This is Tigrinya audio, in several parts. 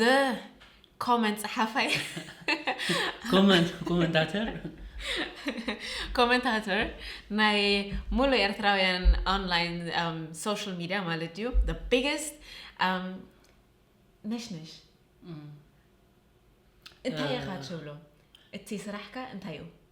the ኮመንት ጸሓፋይ ኮመንታተር ኮመንታተር ናይ ሙሉ ኤርትራውያን ኦንላይን ሶሻል ሚድያ ማለት እዩ the biggest um, ነሽነሽ እንታይ ኢኻ ትብሎ እቲ ስራሕካ እንታይ እዩ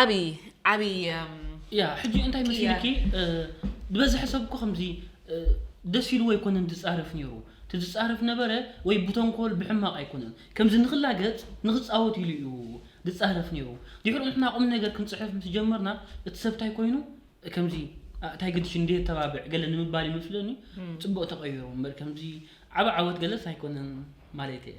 ዓቢ ዓቢ ያ ሕጂ እንታይ መሲልኪ ብበዝሒ ሰብ እኮ ከምዚ ደስ ኢልዎ ኣይኮነን ዝጻረፍ ነይሩ እቲ ዝጻረፍ ነበረ ወይ ብተንኮል ብሕማቕ ኣይኮነን ከምዚ ንኽላገጽ ንኽጻወት ኢሉ እዩ ዝጻረፍ ነይሩ ድሕሩ ንሕና ቁም ነገር ክንጽሕፍ ምስ ጀመርና እቲ ሰብ እንታይ ኮይኑ ከምዚ እንታይ ግድሽ እንደ ተባብዕ ገለ ንምባል ይመስለኒ ጽቡቕ ተቐይሩ እምበር ከምዚ ዓብ ዓወት ገለስ ኣይኮነን ማለት እየ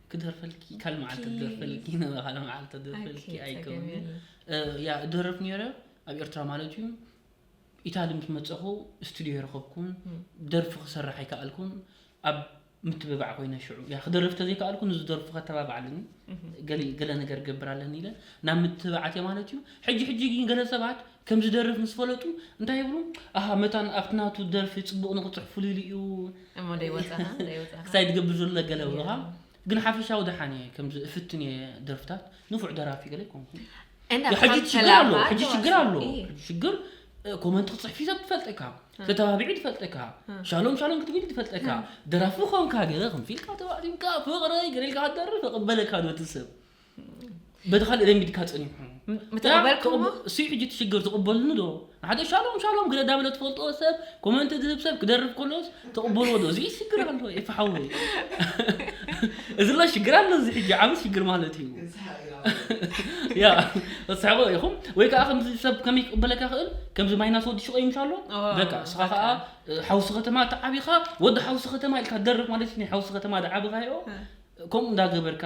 ክደርፈልኪ ካል መዓልቲ ክደርፈልኪ ነበረ ካል መዓልቲ ክደርፈልኪ ኣይከውን ያ እደረፍ ነረ ኣብ ኤርትራ ማለት እዩ ኢታሊ ምስ መፀኹ ስቱድዮ የረኸብኩን ደርፊ ክሰርሕ ኣይከኣልኩን ኣብ ምትብባዕ ኮይነ ሽዑ ያ ክደርፍ ተዘይከኣልኩ ንዝደርፉ ከተባባዕ ኣለኒ ገለ ነገር ገብር ኣለኒ ኢለ ናብ ምትብባዓት እየ ማለት እዩ ሕጂ ሕጂ ግን ገለ ሰባት ከም ዝደርፍ ምስ ፈለጡ እንታይ ይብሉ ኣሃ መታን ኣብቲ ናቱ ደርፊ ጽቡቕ ንኽጽሕፉሉ ኢሉ እዩ እሞ ደይ ወጻኻ ደይ ወጻኻ ክሳይ ትገብር ዘሎ ገለ ይብሉኻ ግን ሓፈሻዊ ደሓን እየ ከምዚ እፍትን እየ ደርፍታት ንፉዕ ደራፊ ገለ ይኮንኩ እንዳ ሕጂ ብሓም ሽግር ተላፋ ኣሎ ሕጂ ኣለዋ ሽግር ሲ። ኣሎ እይ። ሕጂ ሽግር እ፣ ኮመንት ክትጽሕፊ ሰብ ትፈልጠካ ተተባቢዒ ትፈልጠካ ሻሎም ሻሎም ክትብል ትፈልጠካ ደራፊ ኮንካ ገለ ከምዚ ኢልካ ተባዕቲምካ ፍቕረይ ገለ ኢልካ ክትደርፍ እቕበለካ ዶ እቲ ሰብ በቲ ካልእ ለሚድካ ጸኒሑ ምተቐበልኩሞ እሱ ሕጂ እቲ ሽግር ትቕበልኒ ዶ ሓደ ሻሎም ሻሎም ግደ ዳበለ ትፈልጦ ሰብ ኮመንት ዝህብ ሰብ ክደርፍ ከሎስ ተቕበልዎ ዶ እዚ ሽግር ኣሎ ይፍሓወ እዚ ሎ ሽግር ኣሎ እዚ ሕጂ ዓብ ሽግር ማለት እዩ ያ ተስሕቆ ኢኹም ወይ ከዓ ከምዚ ሰብ ከመይ ክቕበለካ ክእል ከምዚ ማይናስ ወዲ ሽቆ ይምሻ ኣሎ በቃ እስኻ ከዓ ሓውሲ ከተማ ተዓቢኻ ወዲ ሓውሲ ከተማ ኢልካ ደርፍ ማለት ናይ ሓውሲ ከተማ ድዓብኻዮ ከምኡ እንዳገበርካ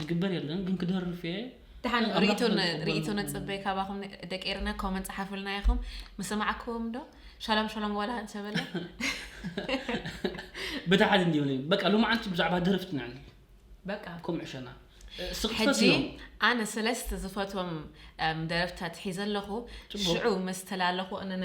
ዝግበር የለን ግን ክደርፍ እየ ድሓን ኣምላኽ ርእቶ ን- ዘዝቕበል ርእቶ ምዃኑ። ነጽበ ካባኹም ደቂ ኤርና ኮመንት ጸሓፉልና ኢኹም ምሰማዕክዎም ዶ ሻሎም ሻሎም ዋላ እንተበለ በታ ሓደ እንዲዩ ነይ በቃ ሎማዓንቲ ብዛዕባ ደረፍቲ ኢና ንብል በቃ ከምኡ ዕሸና ስቕ ሕጂ ትፈትዮም ኣነ ሰለስተ ዝፈትዎም እም፣ ደረፍታት ሒዘ ኣለኹ ጽቡቕ። ሽዑ ምስ ተላለኹ እነ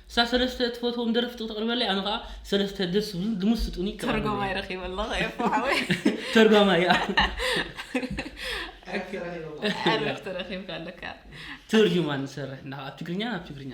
እሳ ሰለስተ እትፈትዎም ደረፍቲ ክተቅርበለይ ኣነ ከኣ ሰለስተ ደስ ዝብሉን ዝምስጡኒ ክቀርበለይ ተርጓማይ ረኪበ ኣለኹ ኤፉ ሓወይ ተርጓማይ እያ ዕርፍቲ ረኺበ ኣለኹ። ዕርፍቲ ረኪብካ ኣለካ ትርጅማን ንሰርሕ እና ኣብ ትግርኛ ናብ ትግርኛ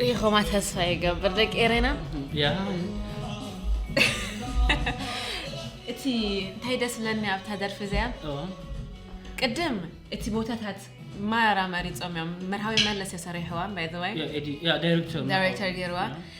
ሪኢኹማ ተስፋ ይገብር ደቂ ኤረና እቲ እንታይ ደስ ብለኒ ኣብታ ደርፊ እዚኣ ቅድም እቲ ቦታታት ማራ መሪፆም እዮም መርሃዊ መለስ የሰሪሕዋ ባይዘወይ ዳይሬክተር ገይርዋ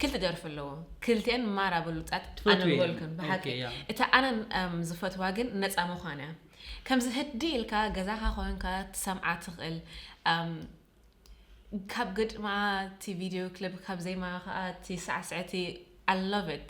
ክልተ ደርፊ ኣለዎ ክልተን ማራ ብሉጻት ኣነ ምበልኩን ብሓቂ እታ ኣነ ዝፈትዋ ግን ነፃ ምዃን እያ ከምዚ ህዲ ኢልካ ገዛኻ ኮንካ ትሰምዓ ትኽእል ካብ ግጥማ እቲ ቪድዮ ክሊፕ ካብ ዜማ ከዓ እቲ ሳዕስዕቲ ኣለቭት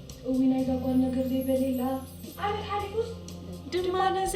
እውይ ናይዛ ጓል ነገር ዘይበሌላ ዓመት ሓሊፉስ ድማ ነዚ።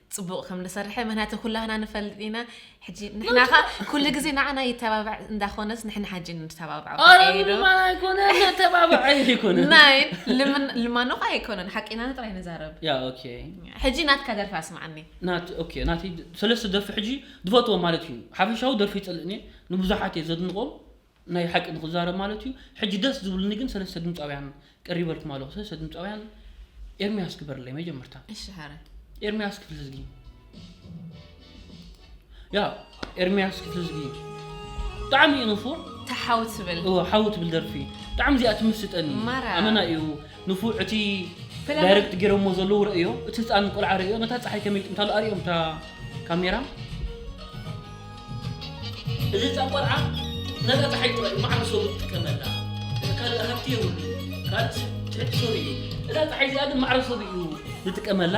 ጽቡቅ ከም ዝሰርሐ ምክንያቱ ኩላህና ንፈልጥ ኢና ሕጂ ንሕና ከ ኩሉ ግዜ ንዓና ይተባባዕ እንዳኮነስ ንሕና ሓጂ ንተባብዖ ናይ ልማኖ ከ ኣይኮነን ሓቂና ንጥራይ ንዛረብ ሕጂ ናትካ ደርፊ ኣስማዓኒ ናቲ ሰለስተ ደርፊ ሕጂ ዝፈትዎ ማለት እዩ ሓፈሻዊ ደርፊ ይጸልእኒ ንብዙሓት እየ ዘድንቆም ናይ ሓቂ ንክዛረብ ማለት እዩ ሕጂ ደስ ዝብልኒ ግን ሰለስተ ድምጻውያን ቀሪበልኩም ኣለኹ ሰለስተ ድምጻውያን ኤርሚያስ ግበርለይ መጀመርታ እሺ ሐረ ኤርሚያስ ክፍልዝጊ ያ ኤርሚያስ ክፍልዝጊ ብጣዕሚ እዩ ንፉዕ ተሓው ትብል እዎ ሓው ትብል ደርፊ ብጣዕሚ እዚኣ ትምስጠኒ ማራ። ኣመና እዩ ንፉዕ እቲ ዳይረክት ጌሮሞ ዘለዉ ረእዮ እቲ ህጻን ቆልዓ ረእዮ ነታ ጸሓይ ከመይ ይጥምታ ኣሎ ኣርእዮም እታ ካሜራ እዚ ህጻን ቆልዓ ነታ ጸሓይ ጥራይ ማዕረ ሰቡ ዝጥቀመላ እቲ ካልእ ሃብቲ የብሉ ካልእ ሰብ ትሕቲ ሰቡ እዩ እዛ ጸሓይ እዚኣ ግን ማዕረ ሰቡ እዩ ዝጥቀመላ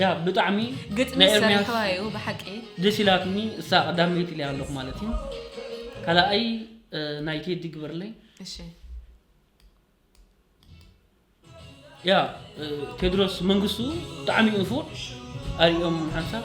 ያ ብጣዕሚ ግጥሚ ናይ ኤርምያስ ሰሪሕዋ እዩ ብሓቂ ደስ ኢላትኒ እሳ ቀዳመይቲ ኢለያ ኣለኹ ማለት እዩ ካልኣይ እ፣ ናይ ቴዲ ግበርለይ እሺ ያ እ፣ ቴድሮስ መንግስቱ ብጣዕሚ እዩ ንፉዕ ኣርኦም ሓንሳብ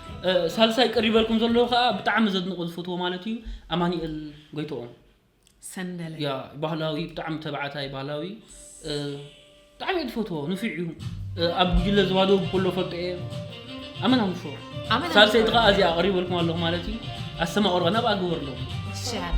ሳልሳይ ቀሪበልኩም ዘለዉ ከዓ ብጣዕሚ ዘድንቆ ዝፈትዎ ማለት እዩ ኣማኒኤል ጎይትኦም ሰንደለ ያ ባህላዊ ብጣዕሚ ተባዕታይ ባህላዊ እ፣ ብጣዕሚ እየ ዝፈትዎ ንፊዕ እዩ እ፣ ኣብ ጉጅለ ዝባዶ ብኩሎ ፈልጦ እየ ኣመና ንፉዕ ኣመና ሳልሰይቲ ንፉዕ። ከዓ እዚኣ ኣቅሪበልኩም ኣለኹ ማለት እዩ ኣሰማቅርባ ናብኣ ግበርሎም ትሽዓተ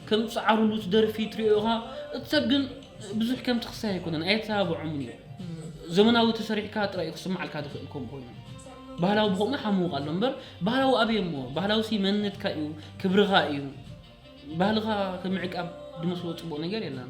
ከም ጻዕርሉ እቲ ደርፊ ትሪኦ ኢኻ እቲ ሰብ ግን ብዙሕ ከምቲ ክሳይ ኣይኮነን ኣየተባብዖምን እዩ ዘመናዊ ተሰሪሕካ ጥራይ እዩ ክስማዓልካ ዝኽእል ከም ኮይኑ ባህላዊ ብኸምኡ ሓምውቕ ኣሎ እምበር ባህላዊ ኣበየ እሞ ባህላዊ ሲ መንነትካ እዩ ክብርኻ እዩ ባህልኻ ከምዕቃብ ዝመስሎ ጽቡቕ ነገር የለን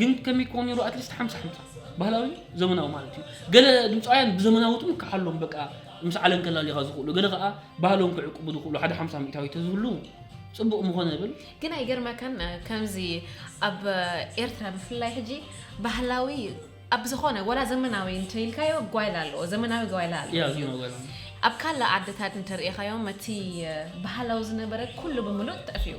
ግን ከመይ ክኾን ነይሩ ኣትሊስት ሓምሳ ሓምሳ ባህላዊ ዘመናዊ ማለት እዩ ገለ ድምፃውያን ብዘመናዊትም ክሓሎም በቃ ምስ ዓለም ከላሊኻ ዝኽእሉ ገለ ከዓ ባህሎም ክዕቅቡ ዝኽእሉ ሓደ ሓምሳ ሚእታዊ ተዝህሉ ፅቡቕ ምኾነ ይብል ግን ኣይገርመካን ከምዚ ኣብ ኤርትራ ብፍላይ ሕጂ ባህላዊ ኣብ ዝኾነ ወላ ዘመናዊ እንተኢልካዮ ጓይላ ኣለዎ ዘመናዊ ጓይላ ኣለዎ ያ ዜና ጓይላ ኣብ ካልእ ዓድታት እንተርእኻዮም እቲ ባህላዊ ዝነበረ ኩሉ ብምሉእ ጠፊኡ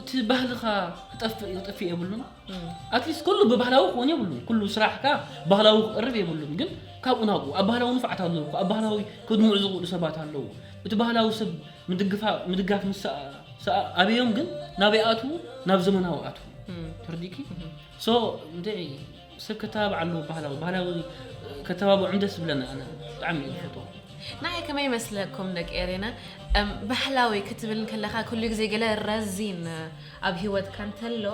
እቲ ባህልኻ ክጠፍእ ይጥፍእ የብሉን ኣትሊስት ኩሉ ብባህላዊ ክኾን የብሉን ኩሉ ስራሕካ ባህላዊ ክቕርብ የብሉን ግን ካብኡ ናብኡ ኣብ ባህላዊ ንፍዓት ኣለዉ እኮ ኣብ ባህላዊ ክድምዑ ዝኽእሉ ሰባት ኣለዉ እቲ ባህላዊ ሰብ ምድግፋ- ምድጋፍ ምስ ሰኣ ኣበዮም ግን ናበይ ኣትዉ ናብ ዘመናዊ ኣትዉ ተርዲእኪ ሶ እንታይ ሰብ ከተባብዕ ኣለዎ ባህላዊ ባህላዊ ከተባብዖም ደስ ዝብለኒ ኣነ ብጣዕሚ እየ ዝፈትዎ። ንዓይ ከመይ ይመስለኩም ደቂ ኤሬና እም ባህላዊ ክትብል እንከለኻ ኩሉ ግዜ ገለ ረዚን ኣብ ሂወትካ እንተሎ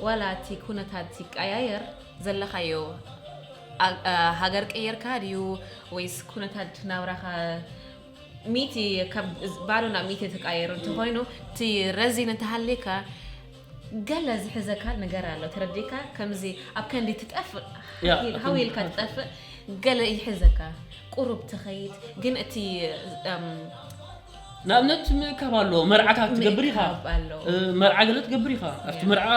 ዋላ እቲ ኩነታት ይቀያየር ዘለኻዮ ኣ- ሃገር ቀይርካ ድዩ ወይስ ኩነታት ናብራኻ ሚእቲ ካብ ባዶ ናብ ሚእቲ ተቀያይሩ እንተኾይኑ እቲ ረዚን እንተሃልዩካ ገለ ዝሕዘካ ንገር ኣሎ ተረዲእካ ከምዚ ኣብ ከንዲ ትጠፍእ ሃው ኢልካ ትጠፍእ ገለ ይሕዘካ ቁሩብ ትኸይድ ግን እቲ ንኣብነት ምእካብ ኣሎ መርዓታት ትገብር ኢኻ መርዓ ገለ ትገብር ኢኻ ኣብቲ መርዓ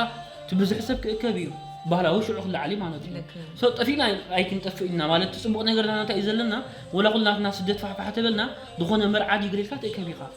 እቲ ብዙሕ ሰብ ክእከብ እዩ ባህላዊ ሽዑ ክለዓሊ ማለት እዩ ሰብ ጠፊእና ኣይክንጠፍእ ኢና ማለት እቲ ፅቡቅ ነገርና እንታይ እዩ ዘለና ወላ ኩልናትና ስደት ፋሕፋሕ ተበልና ዝኾነ መርዓ ድዩ ገለ ኢልካ ትእከብ ኢኻ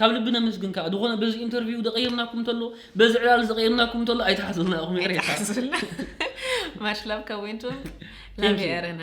ካብ ልቢ ነመስግን ከኣ ዝኾነ በዚ ኢንተርቪው ደቐይርናኩም ተሎ በዚ ዕላል ዝቐይርናኩም ተሎ ኣይትሓዙልና ኢኹም ይቕሬታ ማሽላብ ካብ ወይንቱም ላብ ኤረና